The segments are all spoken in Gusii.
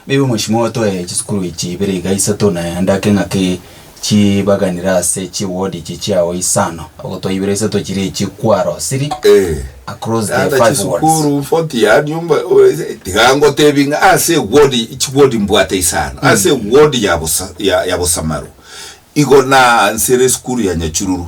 Maybe mweshimiwa otoe chisukuru echi ibere iga isato na ande ake ng'aki chibaganire ase chi ward echi chiao isano, ogotoa ibere isato chiria echi kwarosiri across the Naende five wards. chisukuru forty yaani omba tiga ngotebie ng'a ase ward chi ward mbwate isano ase ward ya bosa ya ya bosamaru igo naanchire esukuru ya nyachururu.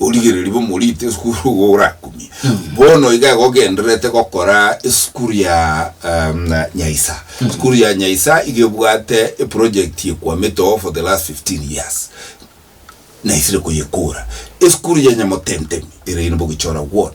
origereri bomorito esukuru igo orakumie bono iga igo ogendererete gokora esukuru ya um, nyaisa esukuru ya nyaisa iga ebwate eproject ekwamete oo for the last 15 years naisire koyekora esukuru ya nyamotentemi ere ine bogichora ward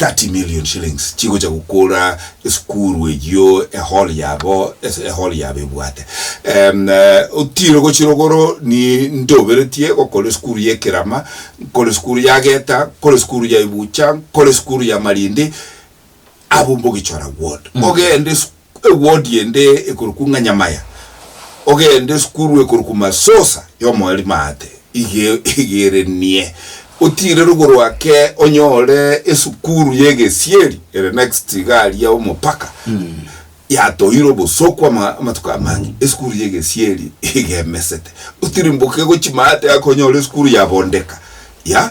30 million shillings chigocha gokora esukuru eyio ehall yabo ase ehall yabo ebwate em otiro gochira igoro ni ntoberetie gokora esukuru ya ekerama nkore esukuru ya geta nkore esukuru ya ebucha nkore esukuru ya marindi abwo mbogichora ward mogende esukuru Ewodi ende ekorokwa Nganyamaya, ogende esukuru ekorokwa Masosa y'omoeri maate, igerenie otiire rogoro ake onyore esukuru y'egesieri ere next iga aria omopaka, yatoire obosooku amatuko amange esukuru y'egesieri igemesete, otirimboke gochia maate ake onyore esukuru ya Bondeka ya.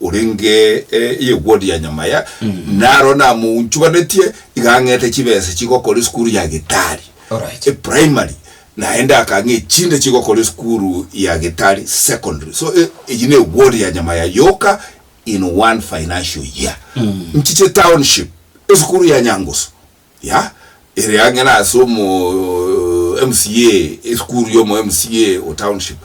orenge eyegwo ria nyama ya naro namounchuganetie iga ang'ete chibesa chigokora esukuru ya gitari Alright. e primary naende akang'e echinde chigokora esukuru ya gitari secondary so e- eyi ne ward ya nyama ya yoka in one financial year nchiche township esukuru ya nyangusu Ya, ere ang'e na ase omo MCA, esukuru ya omo MCA o township,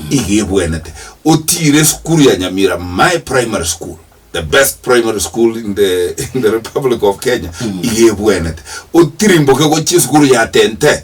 iga ebwenete. Otiire esukuru ya Nyamira, my primary school, the best primary school in the, in the Republic of Kenya, iga ebwenete. Otirimboke gochia esukuru ya Tente,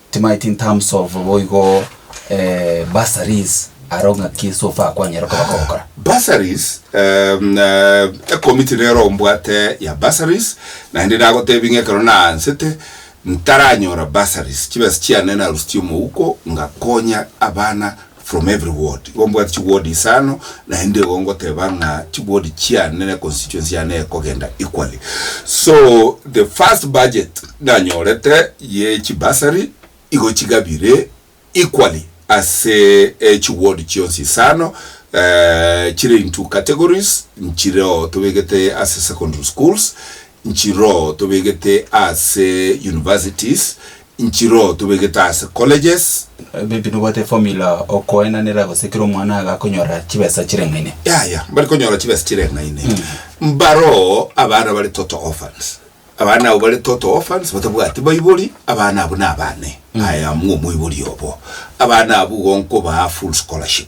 Timanyeti in terms of boigo eh, bursaries aro ng'aki so far kwanyare koba kogokora. Bursaries, um, uh, ekomiti nero mbwate ya bursaries, naende nagotebi ng'a ekero naansete ntaranyora bursaries, chibesa chiane narusitie omouko ngakonya abana From every ward igo mbwate chi ward isano naende igo ngoteba ng'a chi ward chiane ne constituency yane ekogenda equally so the first budget nanyorete ye chi bursary igo chigabire equally ase chi ward chionsi isano chire into categories nchire oo tobegete ase secondary schools nchire oo tobegete ase universities Inchiro tobegete ase colleges. Maybe nobwate formula okoenanera gose kera omwana iga akonyora chibesa chireng'aine. Yaya mbari konyora chibesa chireng'aine mbaroo abana bare total orphans abana abo bare total orphans batabwati baibori abana abo nabane I am omoibori obo abana abwo igo nkobaa full scholarship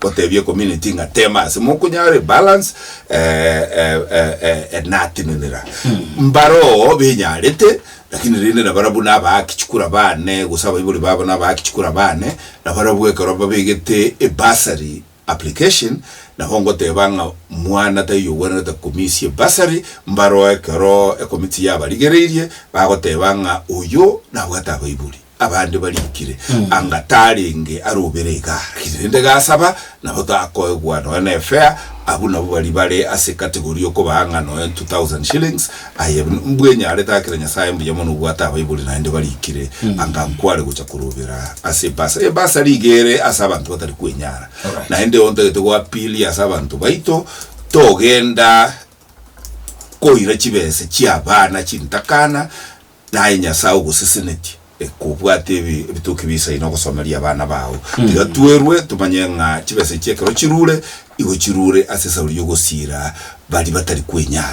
Gotebia community ng'a tema ase mokonyara ebalance enatenenera mbaroo benyarete lakini rende nabara buna abaaki chikura bane gose abaibori babo na abaaki chikura bane nabarabwo ekero babegete ebasari application nabo ngoteba ng'a mwana taiyo ogwenerete komisia ebasari mbaroo ekero ecommittee yabarigereirie bagoteba ng'a oyio nabwate abaibori. abande barikire, anga tarenge arobere egari, rende gasaba, nabo takoegwa nonya ne fare, abwo nabo baria bare ase category okobaa ng'a nonya ne 2000 shillings, aye mbwenyarete akire Nyasaye mbuya mono obwate abaibori naende barikire, anga nkware gocha korobera ase ebasari. Ebasari iga ere ase abanto batari kwenyara, Alright. naende ontagete go appeal ase abanto baito, togenda koira chibesa chia abana chintakana, Naye Nyasae ogosesenetie, ekobwate ebi ebitoki bisaine ogosomeria abana bao. Tiga twerwe tomanye ng'a chibesa echi ekero chirure, igo chirure ase esauri y'ogosiira baria batari kwenyara.